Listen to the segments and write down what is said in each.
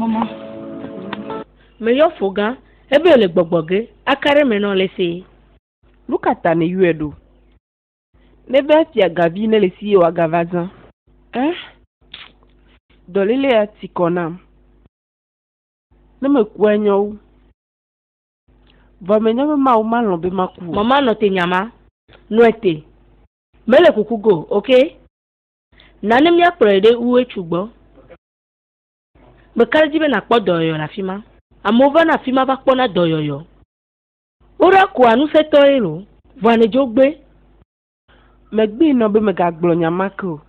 Mama. Me yɔ fo gã, ebe le gbɔgbɔ ge, aka ɖe me nɔ le se. Nu ka ta ne yɔe ɖo? Ne be fia gavi ne le si ye wa gava zã. Eh? Dɔlele ya ti kɔ nam. Ne me kua nyɔwo. Vɔ menye be Mawu malɔ̃ be maku o. Mama nɔ te nyama. Nɔe te. Mele kuku go, ok? Na ne míakplɔe ɖe UHU gbɔ. Meka ɖe edzi be nàkpɔ dɔyɔyɔ le afi ma. Amewo vana afi ma va kpɔna dɔyɔyɔ. Woɖa koa ŋusẽtɔe lo. Vɔa nèdzo gbé. Megbee nɔ be megagblɔ nya ma ke o.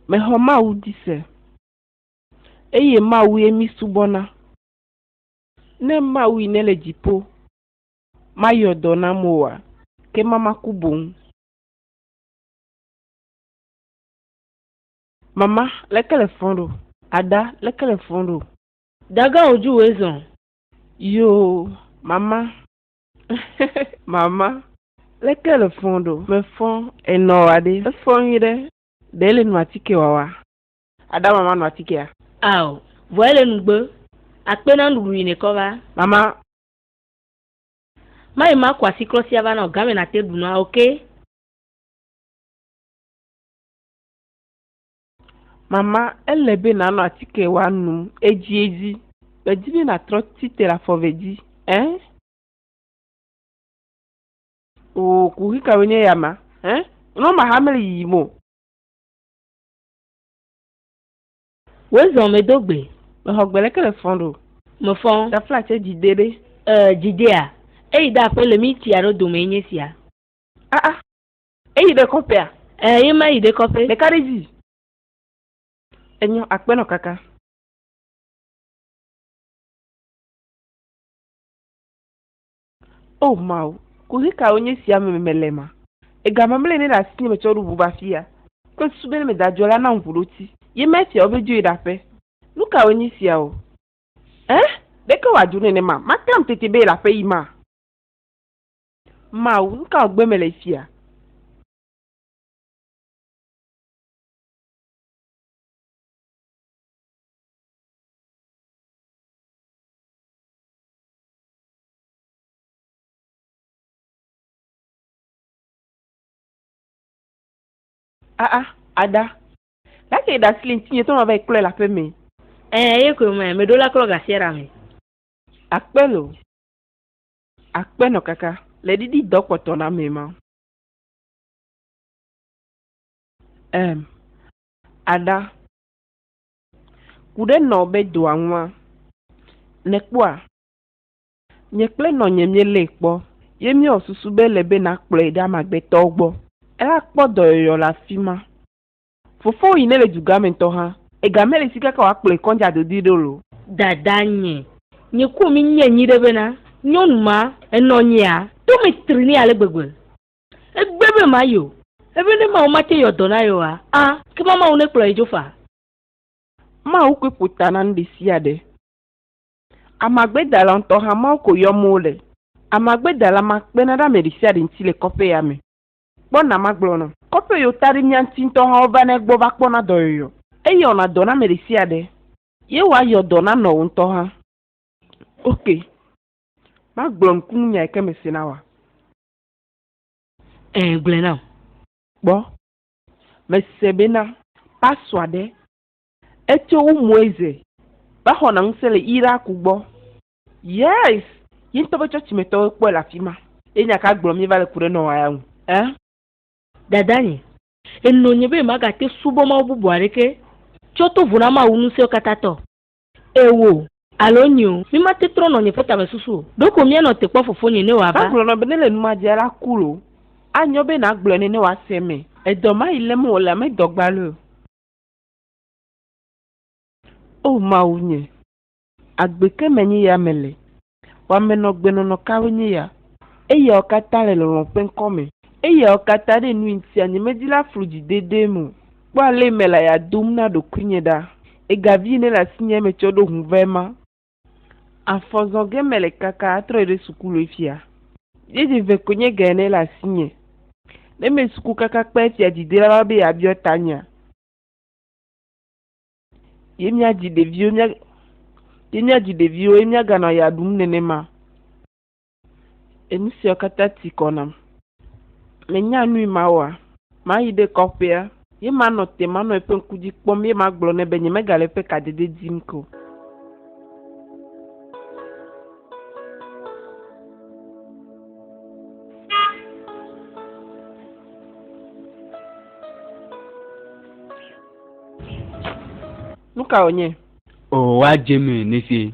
Mexɔ Mawu di se. eye Mawue mísubɔna. Ne Mawui nele dziƒo mayɔ dɔ nam oa, ke mama ku boŋ. Mama leke le fɔn ɖo? Ada leke le fɔn ɖo? Daga o ju we zɔn. Yoo, mama. mama leke le fɔn ɖo? Me fɔn enɔ wa ɖe? Efɔn nyuiɖe. Ɖe le nu atike wawa? Ada mama nu atikea. Ao, vɔ ele nugbe. Akpe na nuɖuɖu yi nekɔ va. Mama. Mayi ma ku asiklɔ sia va nao game nate ɖu nua okay. Mama, ele be nanɔ atike wa num edzi edzi. Medi be natrɔ tite le afɔve dzi eh. Oo, kuxi kawoe nye ya ma eh. Nɔ maxa mele yiyim o. Wé zɔn mé do gbé. Me xɔ gbele ke le fɔn ɖo. Me fɔn. Da fla tse dzi dé ɖé. E dzi dé a. E yi da aƒe le mí tsi aɖe dome ye nye sia. A a. E yi ɖe kɔƒe a. E ye ma yi ɖe kɔƒe. Ɖeka ɖe dzi. E nyɔ akpe nɔ kaka. O Mawu, kuxi kae wonye esia me mele ma? Egamamlɛ ne le asinye metsɔ ɖu ʋu va afia. Kple susu be ne meda dzo la, na ŋuɖoti. Ye ma esia wobe dzoe ɖaƒe. Nu kawoe nye esia o? Ẽ? Ɖeke wòadzo nenema? Maklam tete be yele aƒe yim a? Mawu, nu ka wògbe mele esia? Ah ah, Ada. Ɖake eɖe asi le ŋutinye tɔ mava yi klɔe le aƒe mee. Ɛɛ, eye koe mɛ, meɖo la klɔ gasiɛɖa me. Akpe lo. Akpe nɔ kaka le ɖiɖi dɔ kpɔtɔ na mɛ ma. Ɛm, Ada. Kuɖe nɔ be doa ŋua, nèkpɔa? Nye kple nɔnye míelée kpɔ, ye míewɔ susu be ele be nàkplɔe ɖe ame agbetɔwo gbɔ. Eakpɔ dɔyɔyɔ le afi ma. Fofowò yi nèle dugã me ŋutɔ hã, ega mele si kaka wòakplɔe kɔdzi adodui ɖo lo. Dadanye, nye kpɔ mi nye nyi ɖe bena nyɔnu ma enɔ nyea tome tri nɛ ale gbegbe. Egbe be mayi o, ebe ne Mawu mate yɔ dɔ na ye oa, a, ekema Mawu nekplɔ ye dzo faa. Mawu koe ƒo ta na nuɖesiaɖe. Amagbedala ŋutɔ hã Mawu ko yɔm wole. Amagbedala ma kpena ɖe ame ɖesiaɖe ŋuti le kɔƒe ya me. Kpɔ na magblɔ nɔ. Kɔƒe yiwo ta ɖi mía ŋuti ŋutɔ hã wova na egbɔ va kpɔna dɔyɔyɔ. Eye wɔna dɔ na ame ɖesiaɖe. Ye wa yɔ dɔ na nɔwò ŋutɔ hã. Ok. Magblɔ nukunu nya yike me se na wòa? Ẽ, gblɔe nam. Kpɔ. Mese be na. Pasua ɖe. Etso wu Moise va xɔna ŋusẽ le Iraku gbɔ. Yes! Ye ŋutɔ ƒe tsɔtsi me tɔwoe kpɔe le afima. Ye nya ka gblɔm míeva le ku ɖe nɔ eya ŋu? Ẽ? Dadanye, ènɔ nye be magate subɔ mawu bubu aɖeke tsɔ to vo na Mawu ŋusẽwo katã tɔ? Ewoo alo nyeo, mímate trɔ nɔ nye ƒe tamesusu o. Ɖo ko míanɔ te kpɔ fofonye ne wòava. Magblɔ nɔ be ne le nu ma dzia la ku loo, anyo be nàgblɔe nɛ ne wòase eme. Edɔ mayi lém wòle ame dɔgbaloe o. O Mawu nye, agbe ke menye ya mele, wamenɔgbenɔnɔ kawoe nye ya! Eyawo katã le lɔlɔ̃ ƒe ŋkɔ me. Eyawo katã ɖe nui ŋutia nyemedi la flu dzi dedeem o. Kpɔ ale mele aya dom na ɖokuinye ɖa! Egavi ene le asinye metsɔ ɖo ŋu vɛ ma. Afɔ zɔ ge mele kaka atrɔyi ɖe sukulu efia. Yedze ve konye ge ne le asinye. Ne me suku kaka kpe efia dzi dela va be ya biɔ tanyea. Ye mia dzi ɖeviwo mia ye mia dzi ɖeviwo ye mia ganɔ ya ɖum nenema. Enu siawo katã ti kɔ nam. Menya nui mawoa? Mayi ɖe kɔƒea, ye manɔ te, manɔ eƒe ŋku dzi kpɔm, ye magblɔ nɛ be nyemegale eƒe kadede dim ke o. Nu ka wònye? Oo, woadze mí nesie.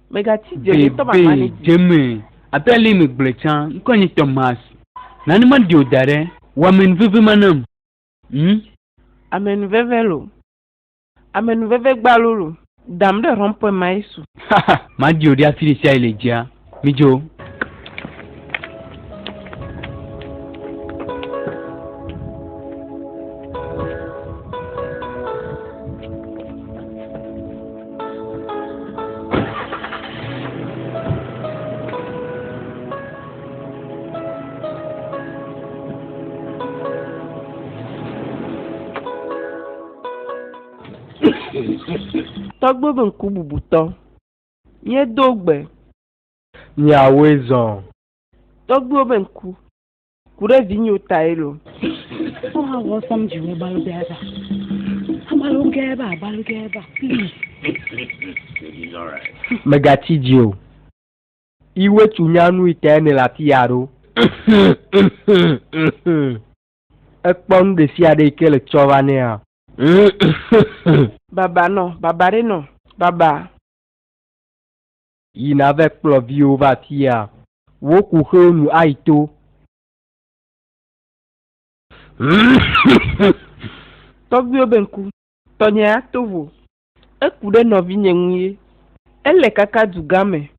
Bebe deme abe ale me gblɔe tsã, ŋkɔe nye Thomas. Nane maɖi o da ɖe, wɔ amenuveve ma nam. Hm? Amenuveve lo. Amenuveve gbalo lo. Dam ɖe rɔnpɔe ma Yesu. Haha, maɖi o ɖe afi ɖesiaɖe le dzia. Midzo. Tɔgbuibuŋkububutɔ, míedo gbe Miawoe zɔ. Tɔgbuiwo be ŋku. Ku ɖe vinyewo tae lo. Wo hã wɔ sɔm dzi wo balo gɛ ba. Abalo gɛ ba abalo gɛ ba please. Megatsi dzi o. Iwe tsu nya nu itae ne le ati ya ɖo. Ekpɔ nu ɖesiaɖe yi ke le tsɔ va nɛ a. Baba nɔ baba ɖe nɔ baba. Yi nave kplɔ viwo va afia. Wo kuxewo nu ayi to. Tɔgbuiwo be ŋku. Tɔnye ato vo. Eku ɖe nɔvinye ŋu ye. Ele kaka dugã me.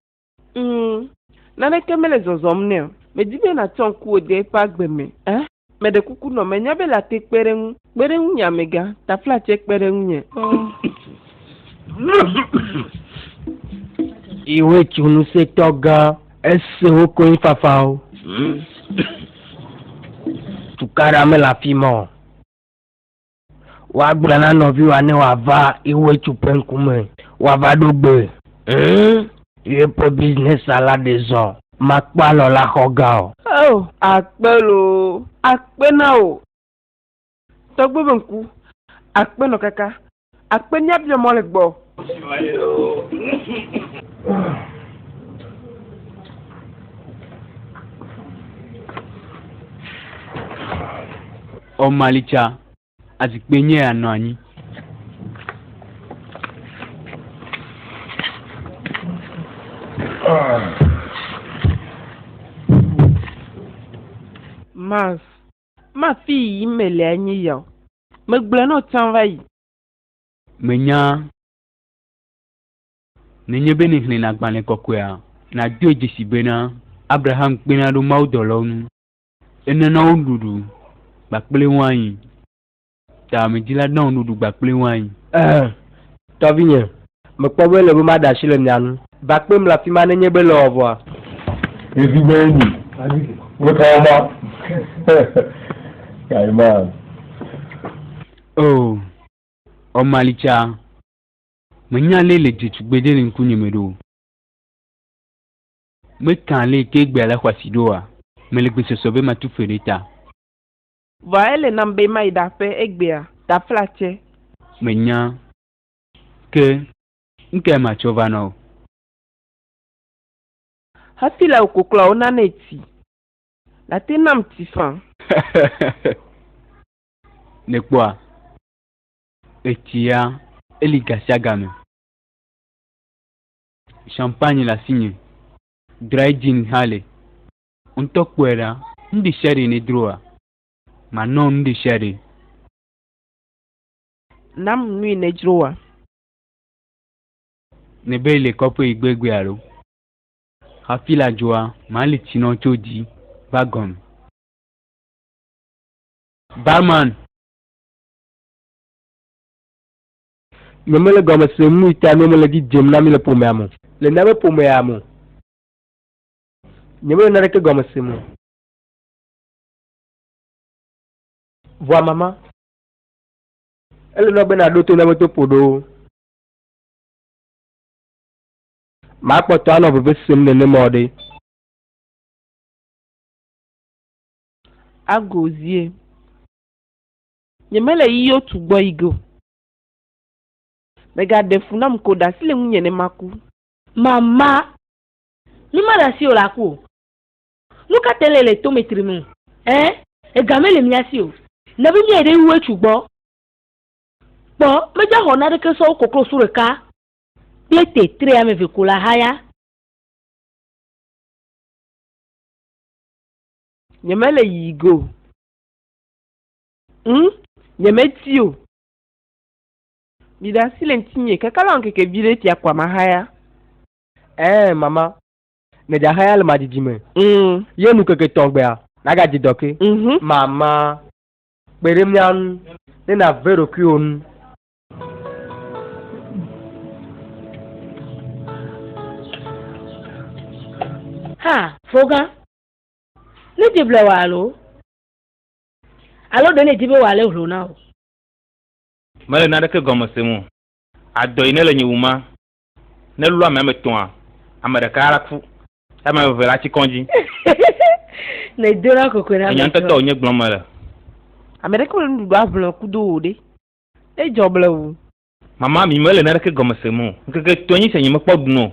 Ŋ, naneke mele zɔzɔm nɛ o. Medi be nàtsɔ ŋkuwò de eƒe agbe me. Ɛ. Meɖe kuku nɔ menya be la te kpe ɖe ŋu. Kpe ɖe ŋunye amegã, tafla tsɛ kpe ɖe ŋunye. Iwe tso ŋusẽtɔ gã. Ese wo konyifafawo. Tukaɖa mele afi ma o. Woagblɔ na nɔviwòa ne wòava Iwuetsu ƒe ŋkume woava ɖo gbe. Ŋ! Yeƒe bisinɛsia la ɖe zɔ. Makpɔ alɔ la xɔ ga o. Oo, akpe loo! Akpe na wò, tɔgbe ƒe ŋku! Akpe nɔ kaka! Akpe míabiɔ mɔ le gbɔwò. Ɔ mali ca azikpe nyɛ ya nɔ anyi. Mars, ma fi yi yim me lea nyi ya o. Me gblɔɛ nɔ can va yi. Me nya ne nye be ne hlɛn agbalɛ kɔkɔɛa, na dɔɛ djesi bena Abraham kpena ɖo Mawu dɔlɔwo nu. Ene na wo nuɖuɖu kpakple wain. Ta amedzila na wo nuɖuɖu kpakple wain. Ẽ, tɔvinye, mekpɔ be ele be maɖe asi le mia ŋu. Va kpem le afi ma ne nye be ele ewɔvɔa? Yesu be enyi, Wotɔ wo ma. Kaiman. Oo, Ɔmalitsa, menya ale le dze tugbedzɛ le ŋkunyeme ɖo. Meka li ke gbea le xɔasi ɖo oa? Mele gbesɔsɔ be matu fe ɖe ta. Vɔa ele nam be mayi ɖa ƒe egbea, ɖa fla tsɛ. Menya ke nukae matsɔ va na wò. Hafi le wò koklɔawo nane ti. Nate nam ti fã. Nèkpɔa? Etsia, eli gasiagame. Champagne le asinye. Dry gin hã li. Ŋutɔ kpɔe ɖa. Nuɖe sia ɖe nedroa, manɔ nuɖe sia ɖe. Nam nui nedroa. Ne be le kɔƒe yi gbegbe alo. Hafi la dzoa, mali tsi nɔ tso dzi va gɔme. Barman. Nyemele gɔme sem nu yi ta nuwo mele edzi dzem na mí le ƒomea me o. Le míaƒe ƒomea me. Nyemele naneke gɔme sem o. Vɔa mama, ele na wò be nàɖo to míaƒe to ƒoɖowo. Makpɔtɔ anɔ veve sem nenema o ɖe. Agozie. Nyemele yiyɔ tu gbɔ yi ge o. Mègaɖe fu nam ko ɖe asi le ŋunye ne maku. Mama, mi maɖe asi o le aku o. Nu ka tae nèle tome trim o? Ẽ, ega mele mía si o. Nèbu míae ɖe wu etsũ gbɔ. Kpɔ, medzaxɔ naneke sɔ wu koklosu ɖeka kple tetre ame eve ko le ahaya. Nyemele yiyi ge o. Ŋ, nyemeti o. Miɖe asi le ŋtinye, kekala wɔ ŋkeke viɖe fia kpɔa mahaya. Ɛɛ, mama, ne djahaya le madidi me, ŋ, ye nu ŋkeke tɔn gbea, nagadzi dɔ ke. Ŋ, mama, kpe ɖe mia ŋu ne nave ɖokuiwò nu. Ha, fɔga, ne djeblewa alo. Alo ɖe nèdi be wòalé hlo na wò? Mele naneke gɔme sem o. Adɔ yi nele nye wuma. Ne lɔ amea me tɔa, ame ɖeka la ku, ye ame eve la tsi kɔdzi. Ne dona kokoe na ame etɔ̃. Nyaŋtɔtɔ wònye gblɔm mele. Ame ɖeke mele nuɖuɖu aʋlɔe kudo wò ɖe, edzɔ blewu. Mama mi mele naneke gɔme sem o. Ŋkeke etɔ̃e nyi sia nyemekpɔ ɖuno.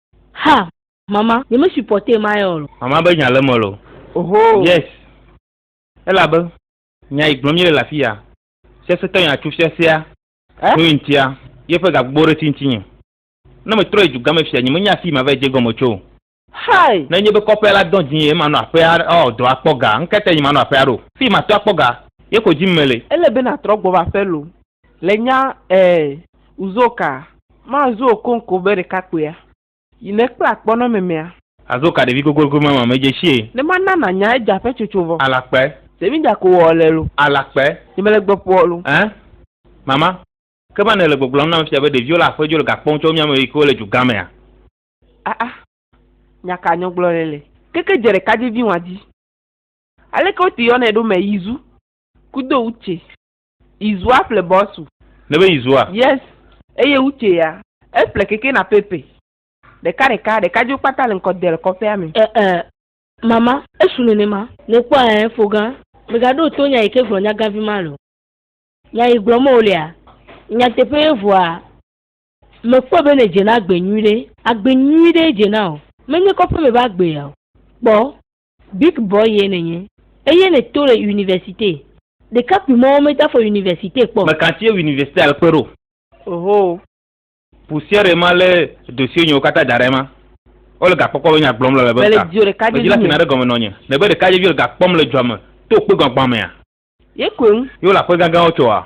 Ha! Mama, nye me supporte ma yɛ olo. Mama be nya le eme olo. Ohoo. Yes. Elabe, nya yi gblɔm míele le afiya, Sesẽtɔ nya tso fiasea Eh? tso ŋutia, ye ƒe gagbugbɔ ɖe ti ŋutinye. Ne metrɔ yi dugame fia, nye menya afii mava yi dze gɔme tso o. Hi! Ne nye be kɔƒea la dɔn dzinye ye manɔ aƒea awɔ dɔ akpɔ ga, ŋkete nye manɔ aƒea ɖo. Fii matɔ akpɔ ga, ye ko dim mele. Ele be natrɔ gbɔ va ƒe loo. Le nya ɛɛ uzo ka ma zuo konko be ɖekakpuia yi ne kpla kpɔ nɔ mɛmɛa. Azo ka ɖevi gogogo ma ma me dje shi e. Ne ma na na nya edja ƒe tsotso vɔ. Ala kpe. Se mi dja ko ɔ le lo. Ala kpe. Nye me le gbe ƒoɔ lo. Ɛɛ mama ke ma ne le gbɔgblɔm nam fia be ɖeviwo le aƒe djo le ga kpɔm tsɔ mia me yi ke wo le dju gã mea. Aa nya ka nyɔgblɔ le le. Keke dje ɖeka dje vi ŋwa dji. Aleke wo te yɔ nɛ ɖo mɛ yi zu ku do utse. Izua ple bɔsu. Nebe izua. Yes. Eye utse ya. Eple keke na pepe. Ɖeka ɖeka, ɖeka dzo kpata le ŋkɔ del kɔƒea me. Eh eh mama esu nenema. Ne kpɔ eh fogã. Mega ɖo to nya yike gblɔ nyagavi ma le o. Nya yi gblɔ me wo lea nyateƒe ye vɔa me kpɔe be ne dze na agbe nyuiɖe. Agbe nyuiɖe ye dze na o. Menye kɔƒe me be agbe ya o. Kpɔ. Big boy ye nènye eye nèto le universite. Ɖekakpui mɔwo meda fɔ universite kpɔ. Meka tsie universite al kpe ɖo. Ohoo. Poussière ma lé dossier nyɛwo kata da ɖe ema. Wole ga kpɔkpɔ be nya gblɔm lele be ŋka. Mele djio ɖekadjevi me. Medjila fina ɖe gɔme nɔnye. Ne be ɖekadjevi le ga kpɔm le djua me to kpe gbagbã mea. Ye koe ŋu. Ye wole aƒe gãgãwo tsoa?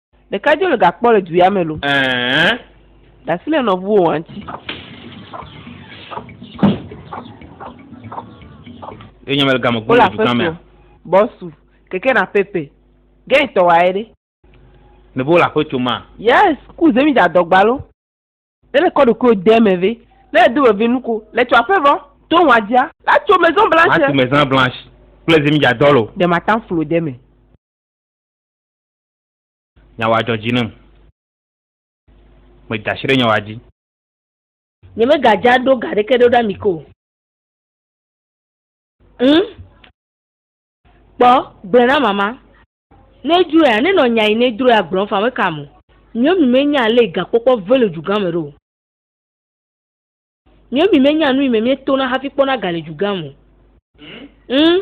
Ɖeka dzo le gakpɔ le duya me lo. Ɛɛ. Dasi le nɔvuwo wa ŋuti. Ye nyame le game gbɔ le dukɔa mea. Bɔsu, keke na pepe. Gɛn tɔ wa ye ɖe. Ne bo le aƒe tso ma. Yes, ku zemi da dɔgba lo. Ne le kɔ ɖokuiwo de me ve. Ne le do veve nu ko. Le tso aƒe vɔ, to wa dia. La tso maison blanche. La tso maison blanche. Kple zemi da dɔ lo. De ma tan flo de me. Nyawoa dzɔ dzi nam. Meda asi ɖe nyawoa dzi. Nyemegadza ɖo ga ɖeke ɖo ɖa mi ko o. Ŋ, kpɔ, gblɔe na mama. Ne edroea, ne nɔ nya yi ne edroea gblɔm fa meka mo. Miɔmi menya ale yi gakpɔkpɔ ve le dugã me ɖo o. Miɔmi menya nu yi me mietona hafi kpɔna ga le dugã me o. Ŋ,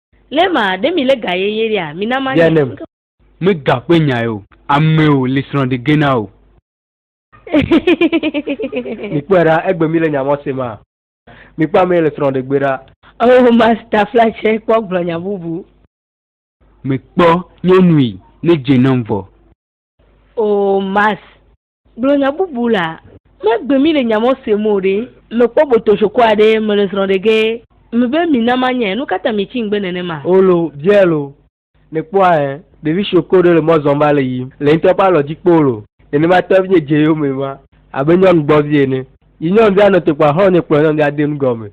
Lé ma, ɖe mi lé ga ye ye ɖea, mi na ma nye. Yalem, mi ga ƒe nya ye o, ame o li srɔ̃ ɖi gena o. Mi kpɔe ɖa, egbe mi le nya mɔ se ma, mi kpɔ ame ye le srɔ̃ ɖe gbe ɖa. Oh masta fla tsɛ kpɔ gblɔ nya bubu. Mi kpɔ nyɔnu yi ne dze nɔm vɔ. Oh mas. Gblɔ nya bubu la. Megbe mi le nya mɔ se mo ɖe. Mekpɔ botoshoko aɖe mele srɔ̃ ɖe ge. Mebe mi na ma nyɛ. Nukata mi tsi ŋgbe nene ma. Olo, Biel o. Ne kpɔ a ɛ. Ɖevi shoko ɖe le mɔ zɔn va le yim. Le ŋtɔ ƒe alɔ dzi kpo lo. Nene ma tɔ vie dze yo me ma. Abe nyɔnu gbɔ vie ene. Yi nyɔnu via nɔ tokpoa xlɔ nyɛ kplɔ nyɔnu via de nu gɔme.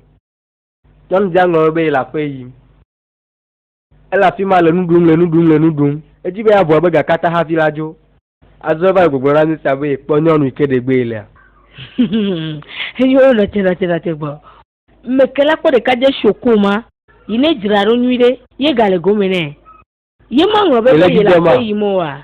Nyɔnu via ŋlɔ be yi le aƒe yim. Ele afi ma le nu ɖum, le nu ɖum, le nu ɖum. Edi be yeabua be gakata hafi la dzo. Azɔ eva le gbɔgblɔ na Misa be yekpɔ nyɔnu yi ke ɖegbee lea. Eye wonɔ te, nɔ te, nɔ te gbɔ. Meke la kpɔ ɖeka dze sho koma yi ne dzra ɖo nyuiɖe ye gale gome nɛ. Ye maŋlɔ be va yele aƒe yim oa?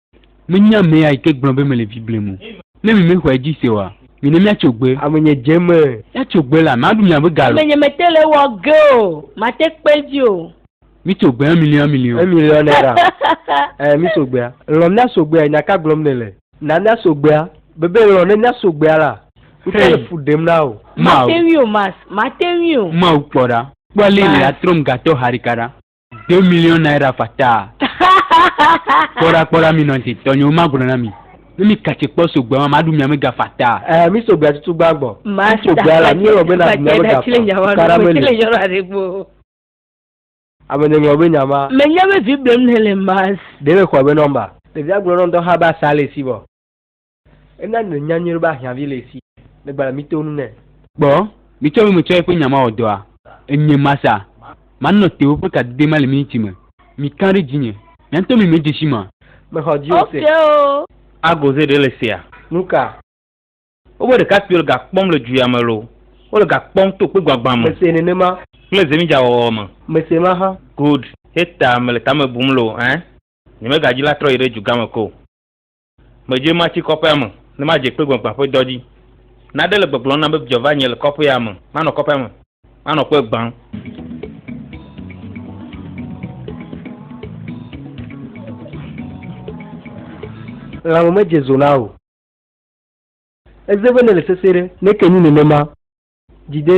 Menye ame ya yi ke gblɔ be mele vi blem o. Ne mi mexɔe dzi se oa, mine míatso gbe. Ame nye dze me. Míatso gbe la, maɖu miaƒe ga lo. Ame nye mete le ewɔ ge o, mate kpe edzi o. Mitso gbe, un million, un million. Un million naira. Ɛɛ, mitso gbea. Lɔ̃ míatso gbea, nya ka gblɔm nèle? Na míatso gbea. Bebe lɔ̃ ne míatso gbea la, ŋutɔ le fu ɖem na wò. Mate ŋui o, Max, mate ŋui o. Mawu, kpɔ ɖa. Kpɔ ale yi nèatrɔm gatɔ haɖeka ɖa. deux millions naira fataa kpɔɖa kpɔɖa mi nɔnti tɔnyewo ma gblɔ na mi ne mi katsi kpɔ sogbe ma ma ɖu miame ga fataa. ɛɛ mi sogbe atutu gba gbɔ. ma sa sogbe ala mi wɔ be na ɖu miame ga fa kara me li. ame ne ŋlɔ be nya ma. me nya be vi blem ne le mas. ɖe me xɔ be nɔmba. ɖevia gblɔ nɔn dɔ xa be asa le si vɔ. Ena nu nya nyuiɖe be ahiãvi le esi le gbalẽ mí to nu nɛ. Kpɔ, mí tsɔ mí me tsɔ eƒe nya ma wɔ dɔa. Enye ma sa, ma nɔ te woƒe kadede ma le mí ŋuti me. Mí kã ɖe dzinye, mía ŋutɔ mí me dze si ma. Me xɔ dzi o se. A goze ɖe le sea. Nuka? Wobe ɖekakpuiwo le ga kpɔm le dzu ya me loo, wo le ga kpɔm to kpe gbagbã me. Me se nenema. Kple ze mí dza wɔwɔ me. Me se ma hã. Good, heta me le tame bum loo, ɛɛ. Nye me ga dzi la trɔ yi ɖe dzu gã me ko. Medzoe matsi kɔƒea me ne madze kpe gbagbã ƒe dɔ dzi. Naɖe le gbɔgblɔm nam be vidzɔ va nye le kɔƒea me. Manɔ kɔƒea me, manɔ kpe gbãm. Lãme medze zo na o. Eze be nèle sesẽ ɖe. Ne ke nyi nenema dzi de.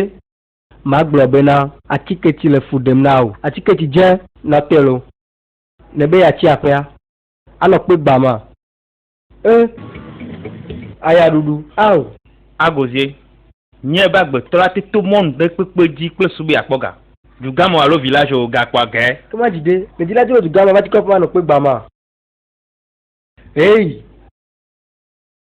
Magblɔ bena. Atike tsi le fu ɖem na wò. Atike tsi dze natɔe lo. Nèbe yeatsi aƒea. Anɔ kpe gba ma. E aya ɖuɖu ao. Agozie, nyɛ be agbetɔ la te to mɔn ɖe kpekpe dji kple su be yakpɔ ga. Dugameo alo village o ga kpɔa gaɛ. Ke ma dji ɖe, me dji la djo le dugamea va dji kɔƒe ma nɔ kpe gba ma. Eii.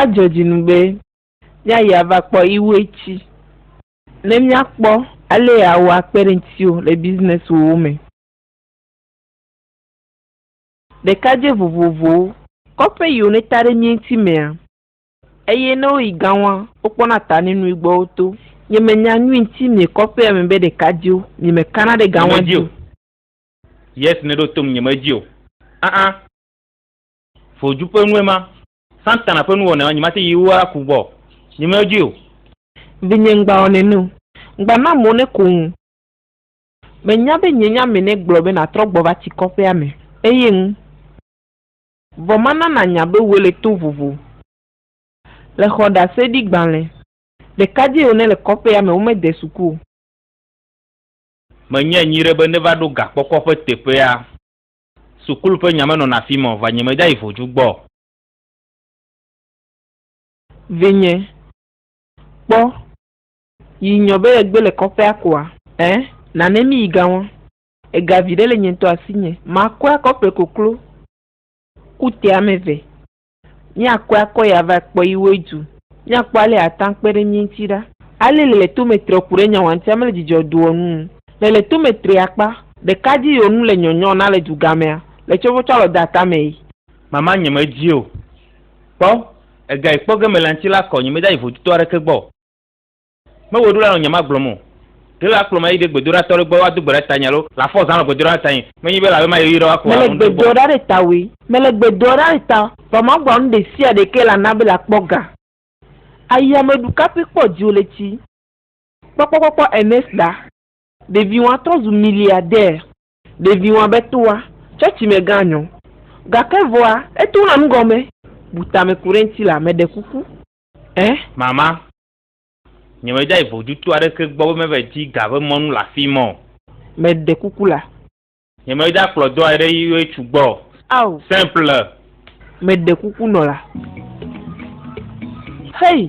Adzɔ dzi nu be míayi ava kpɔ Iwue ci ne míakpɔ ale yeawɔ akpe ɖe ŋutiwò le bizinɛsiwòwo me. Ɖekadzɛ vovovowo. Kɔƒe yiwo neta ɖe mía ŋuti mea, eye ne woyi gaŋua, wokpɔna ta ne nui gbɔ woto. Nyemenya nu ŋuti mie kɔƒea me be ɖekadzɛwo, miemekana ɖe gaŋua dzi o. Nyemedi o. Yes, nèɖo tom, nyemedi o. Aa. Foju ƒe nue ma. Satana ƒe nuwɔnae ma, nyi mate yi wo aku gbɔ o. Nyi me dui o. Vinye ŋgba wɔ nɛ nu. Ŋgba na mo ne ko ŋu. Me nya be nye nya me ne gblɔ be na trɔ gbɔ va tsi kɔƒea me, eye ŋu. Vɔ ma na na nya be woe le to vovo. Le xɔ ɖase ɖi gbalẽ. Ɖeka dzi o ne le kɔƒea me, wo me de suku o. Me nye nyi ɖe be ne va ɖo ga kpɔkpɔ ƒe teƒea. Sukulu ƒe nya menɔna afi ma o, vɔ nye medayi vodzu gbɔ o. Vinye, kpɔ, yi nyɔ be yegbe le kɔƒea koa? Ẽ, nane mi yi ga ŋɔ. Ega viɖe le nye ŋutɔ asinye. Makɔe akɔ ƒle koklo ku te ame ve. Míakɔe akɔ yi ava kpɔ yi woe du. Míakpɔ ale yeate ŋu akpe ɖe mí ŋuti ɖa. Ale le le tome tre ku ɖe nyawantia me le dzidzɔ doɔ nu ŋu. Le le tome tre akpa ɖeka dzi yi wonu le nyɔnyɔ na le dugamea, le tsɔvɔtsɔ alɔ de atame yi. Mama nye me dzi o. Kpɔ, ega yi kpɔ ge mele ŋuti la kɔ, nye me da yi voduto aɖeke gbɔ o. Mewɔe ɖo la nɔ nye magblɔm o. Ɖe la kplɔm ayi ɖe gbedoɖa tɔ ɖe gbɔ woado gbe ɖa tanye alo le afɔ zã nɔ gbedoɖa ɖa tanye. Menyi be lawe mayi ɣeyiɣi ɖe woakplɔ Mele gbe doa ɖa ɖe tawòe. Mele gbe doa ɖa ɖe tawò. Vɔ magblɔ nu ɖe sia ɖe ke la na be la kpɔ ga. Ayi ame ɖu kape kpɔ dziwò le tsi kpɔkpɔ kpɔkpɔ ene sa. Ɖeviwoa trɔ zu miliadɛɛ. Ɖeviwoa be toa tsɔtsi me gã nyɔ. Gake vɔa eto na nugɔme. Bu tame ku ɖe ŋti la meɖe kuku. Ɛɛ. Mama. Nyemedayi vodutu aɖeke gbɔ be meva di ga ƒe mɔnu le afii ma o. Meɖe kuku la. Nyemedakplɔ dɔa ɖe yi ŋutsu gbɔ o. Ao. Simple. Meɖe kuku nɔ la. Hey!